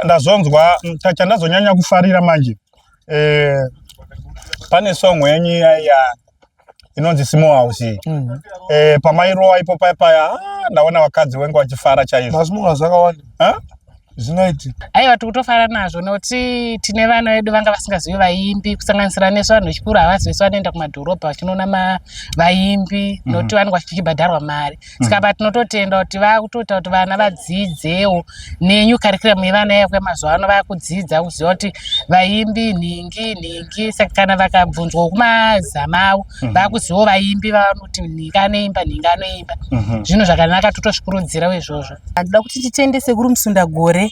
ndazonzwa chandazonyanya kufarira manje eh, pane song yenyu iya inonzi simo house mm. eh, pamairowa ipo paya paya ah, ndaona vakadzi wenge vachifara chaizvo zvinoiti aiwa tikutofara nazvo nokuti tine vana vedu vanga vasingazivi vaimbi kusanganisira nesu vanhu vechikuru havazi vesu vanoenda kumadhorobha vachinoona vaimbi mm. nokuti vanenge vachibhadharwa mari saka mm. patinototenda kuti vakutoita kuti vana vadziidzewo nenyu karikiramu yevana yakwe mazuva ano vakudzidza kuziva kuti vaimbi nhingi nhingi saka kana vakabvunzwa kumazama avo mm. vakuzivawo vaimbi vavanoti nhingi anoimba nhingi anoimba mm-hmm. zvinhu zvakanaka totosvikurudzirawo izvozvo anoda kuti titende sekuru musundagore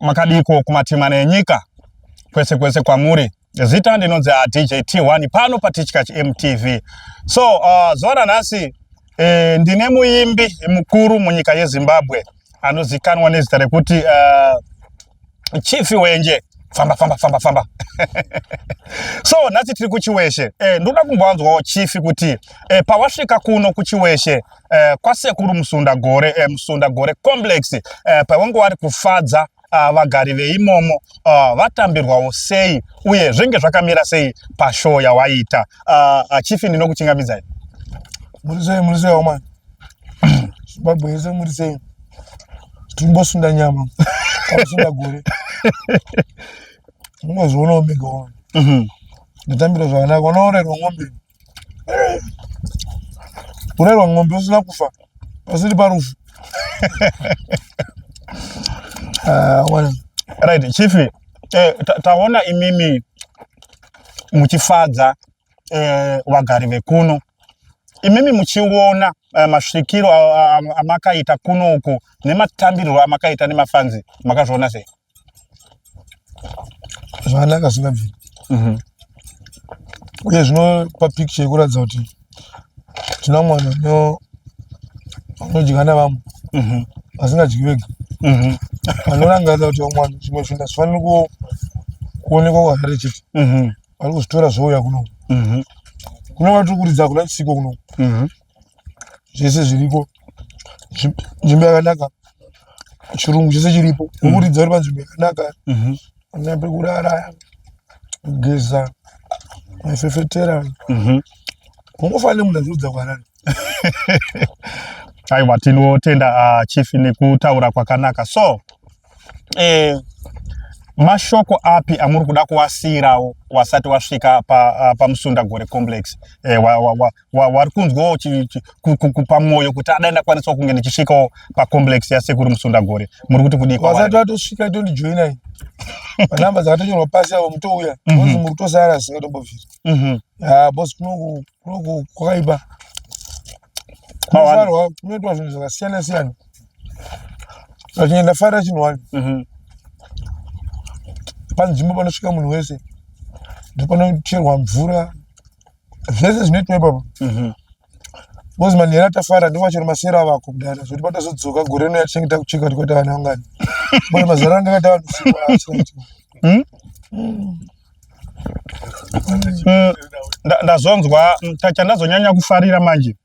Makadiko kumatima nenyika kwese kwese kwamuri zita ndinonzi a dj t1 pano patichkach mtv so uh, zuva ranhasi eh, ndine muimbi mukuru munyika yezimbabwe anozikanwa nezita rekuti uh, chifi wenje famba famba famba famba so nhasi tiri kuchiweshe eh, ndoda kumbowanzwawo chifi kuti eh, pawasvika kuno kuchiweshe eh, kwasekuru musunda gore eh, musunda gore complex eh, pavange vari kufadza uh, vagari veimomo uh, vatambirwawo sei uye zvenge zvakamira sei pashow yawaita uh, uh, chief ndinokuchingamidzai muri sei muri sei omani zimbabwe yese muri sei timbosunda nyama kwakusunda gore unozvionawo mega wani mhm. ndatambira zvakanaka unoorerwa ng'ombe kurerwa ng'ombe usina kufa pasiri parufu ah, right chief eh, taona imimi muchifadza eh, vagari vekuno imimi muchiona eh, masvikiro amakaita kuno uku nematambiriro amakaita nemafanzi makazviona sei zvakanaka zvingabviri mhm. uye zvinopa picture yekuratidza kuti tina mwana unodya navamwe mhm. asingadyi vega mhm. anorangarira kuti vamwana zvimwe zvinhu hazvifaniri kuonekwa kwahari chete vari kuzvitora zvouya kuno kuno vatiri kuridza kuna chisiko kuno zvese zviriko nzvimbo yakanaka chirungu chese chiripo kukuridza uri panzvimbo yakanaka mhm. ane pekurara kugeza maifefetera mhm. kungofanira nemunhu aziudza kwarari aiwa tinotenda ah, chief nekutaura kwakanaka so eh, mashoko api amuri kuda kuwasiyirawo wasati wasvika ah, pamusunda pa gore complex eh, wa, wa, wa, wari kunzwawo kupa mwoyo kuti adai ndakwanisawo kunge ndichisvikawo pacomplex yasekuru musundagore muri kuti kudii vasati vatosvika tondijoinai manamba dzakatonyorwa pasi avo mutouya mhm. bozi muri kutosara zvisingatombobvira mhm. ah, bozi kunoku kwakaipa kunofarwa kunoitwa zvinhu zvakasiyana siyana zvachinge ndafarira chinhu wani mhm. panzvimbo panosvika munhu wese ndopanocherwa mvura zvese zvinoitwa ipapo mhm. bcoz manhera atafara ndivo vachiri masera avako kudara zvoti patazodzoka gore rino yatinenge takuchika kuti kwata vanhu vangani bcause mazara anga akaita vanhu usiku hmm? hmm, ndazonzwa hmm, chandazonyanya kufarira manje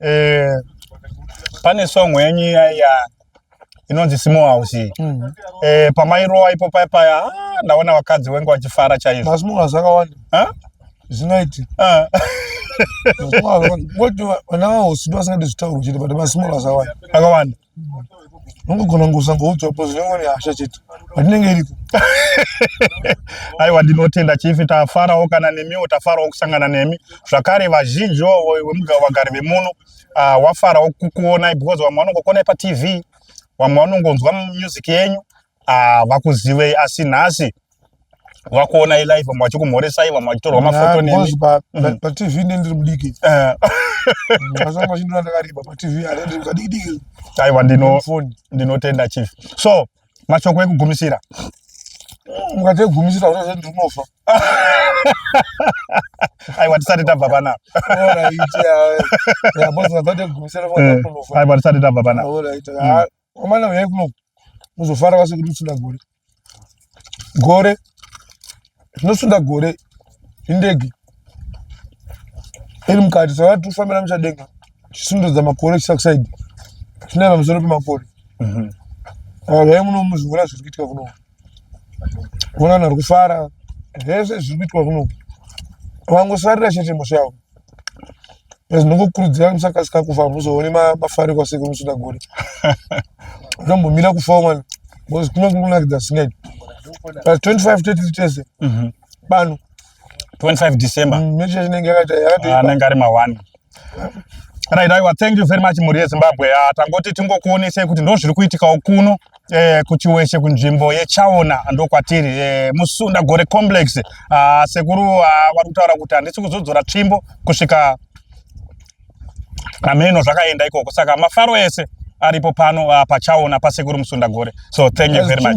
eh, pane song yenyu iya inonzi small house iyi mm -hmm. e, pamairowa ipo paya paya ah, ndaona vakadzi wenge vachifara chaizvo masmall house akawanda zvinoiti ah. vana vahosi ndo vasingadi zvitaurwa chete but masmall house awanda akawanda unogona kunge usangoudzwa po zvinenge ne hasha chete patinenge iriko aiwa ndinotenda chifi tafarawo kana nemiwo tafarawo kusangana nemi zvakare vazhinji vagari vemuno wa, uh, wafarawo kukuonai because vamwe vanongokuonai patv vamwe vanongonzwa music yenyu uh, vakuzivei asi nhasi vakuonai live vamwe vachikumhoresai vamwe vachitorwa mafoto nemi mm. patv ne ndiri mudiki eh. asanga vachindona ndakareba patv aendiri kadikidiki aiwa ndinotenda chief so mashoko ekugumisira mukati ekugumisira kuti zvee ndinofa aiwa tisati tabva panapa aiwa tisati tabva panapa kwamana uyai kuno muzofara vase kuti usina gore gore zvinosunda gore indege iri mukati saka tifambira muchadenga chisundudza makore chisakusaidi chinai pamusoro pemakore mhm. zvai muno muzviona zviri kuitika kuno kuona vanhu vari kufara zvese zviri kuitwa kuno vangosarira chete mhosva yavo ndinokukurudzira musakasika kufa muzoone mafariko asekuru musuda gore zvombomira kufawo mwana bcause kuno kunonakidza zvisingaiti but 25 30 tese pano 25 December. Mm, mechi inenge yakaita yakati. Ah, anenge ari ma 1. Right, aiwa thank you very much mhuri yeZimbabwe. Ah, tangoti tingokuonesai kuti ndozviri kuitikawo kuno eh, kuchiweshe kunzvimbo yechaona ndokwatiri eh, musunda gore complex ah, sekuru ah, vari kutaura kuti handisi kuzodzora tsvimbo kusvika nameno zvakaenda ikoko saka mafaro ese aripo pano ah, pachaona pasekuru musunda gore so thank you very much